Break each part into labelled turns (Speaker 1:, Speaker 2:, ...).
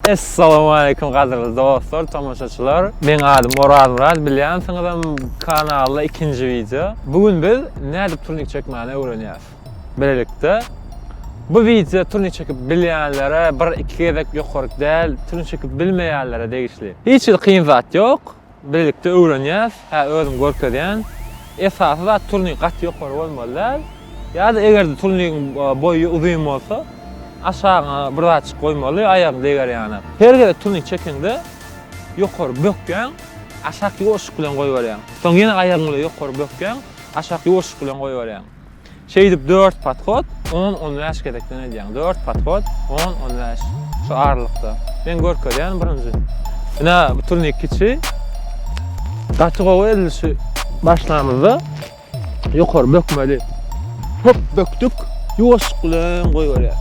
Speaker 1: Essalawmaleýkum gadyrly dostlar, tomaşaçylar. Meň adym Orazmyrat, bilýänsiňizem kanalda ikinji wideo. Bu gün biz nädip turnik çekmäni öwrenýäs. Bilelikde bu wideo turnik çekip bilýänlere bir iki gezek ýokaryk däl, turnik çekip bilmeýänlere degişli. Hiç hili kyn zat ýok. Birlikde öwrenýäs, hä özüm görkezýän. Esasy zat turnik gaty ýokary bolmaly däl. Ýa-da eger-de turnigiň boýy uzyn bolsa, aşagyňa bir zatjyk goýmaly, aýagyň deger ýaly. Her gezek turnik çekeňde ýokary bökýäň, aşak ýuwaşlyk bilen goýberýäň. Soň ýene aýagyň bilen ýokary bökýäň, aşak ýuwaşlyk bilen goýberýäň. Şeýdip dört podhod, on, on bäş gezekden edýäň. Dört podhod, on, on bäş. Şu aralykda. Men görkezýän birinji. Ine, bu turnik kiçi. Gaty gowy edilişi başlamyzda ýokary bökmeli. Hop bökdük. Ýuwaşlyk bilen goýberýäs.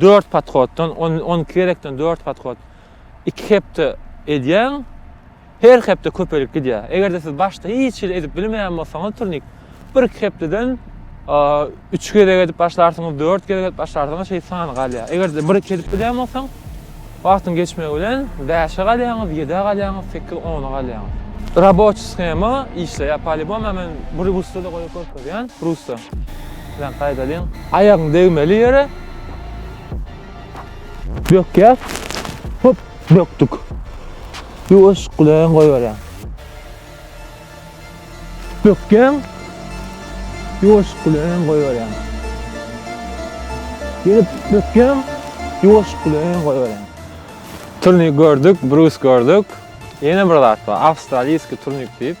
Speaker 1: 4 podhoddan, on, on iki gezekden 4 podhod iki hepde edýäň, her hepde köpelip gidýär. Eger-de siz başda hiç hili edip bilmeýän bolsaňyz turnik, bir-iki hepdeden a, üç gezek edip başlarsyňyz, dört gezek edip başlarsyňyz, şeýdip sany galýar. Eger-de bir-iki edip bilýän bolsaň, Wagtyň geçmegi bilen bäşe galýaňyz, ýedä galýaňyz, sekiz, ona galýaňyz. Raboçi shema işleýär polibom a men bu rusçada goýup görkezýän rusça bilen gaýdalyň. Aýagyň degmeli ýere bökýäs hop bökdük. Ýuwaş gudaýan goýberýän. Bökjäň ýuwaşyk bilen öňe goýberýäň. Ýene bökjäň ýuwaşyk bilen öňe goýberýäň. Turnik gördük, brus gördük. Ýene bir zat bar, awstraliýski turnik diýip.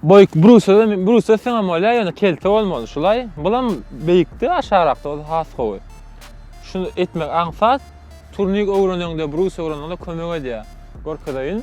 Speaker 1: Boýuk brusa da, brusa siňem bolýar, ýöne kelte bolmaly. Şulaý, bulam beýikde, aşagrakda bolsa has gowy. Şuny etmek aňsat. Turnik öwreneňde, brus öwreneňde kömek edýär. Görkezeýin.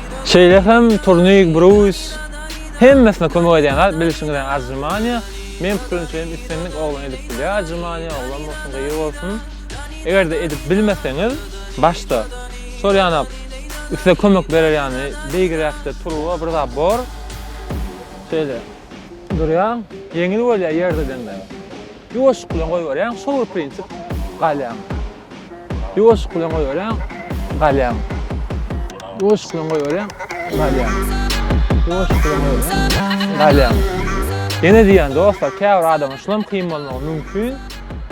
Speaker 1: Şeýle hem Turnik Bruýs hemmesine kömek edýän zat bilişiňizden ajrymaniýa. Men pikirimçe hem islendik oglan edip bilýär ajrymaniýa, oglan bolsun, gyz bolsun. Eger-de edip bilmeseňiz, başda şol ýana size kömek berer ýany beýgiräkde turba bir zat bor. Şeýle durýaň, ýeňil bolýar ýerde deňläp. Ýuwaşlyk bilen goýberýäň, şol bir prinsip galýaň. Ýuwaşlyk bilen goýberýäň, galýaň. Ýuwaşlyk bilen goýberýäň, galýaň. Ýuwaşlyk bilen goýberýäň, galýaň. Ýene diýýän dostlar, käbir adama şulam kyn bolmagy mümkin.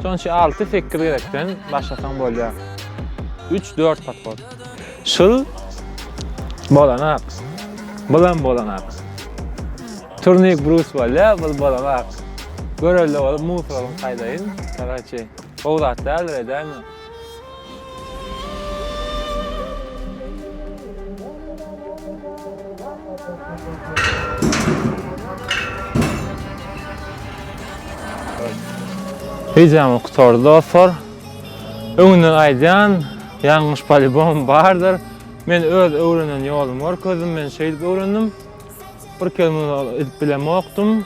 Speaker 1: Şonuň üçin alty-sekiz gezekden başlasaň bolýar. Üç-dört podhod. Şul bolanak. Bulam bolanak. Turnik brus bolýar, bul bolanak. Görelde bolup musoryň taýdaýyn, karaçi. Gowy zat däldir edäýme. Wideomyz gutardy dostlar. Öňünden aýdýan, ýalňyş polibom bardyr. Men öz öwrenen ýolumy görkezdim, men şeýdip öwrendim. Bir kelme edip bilemokdym.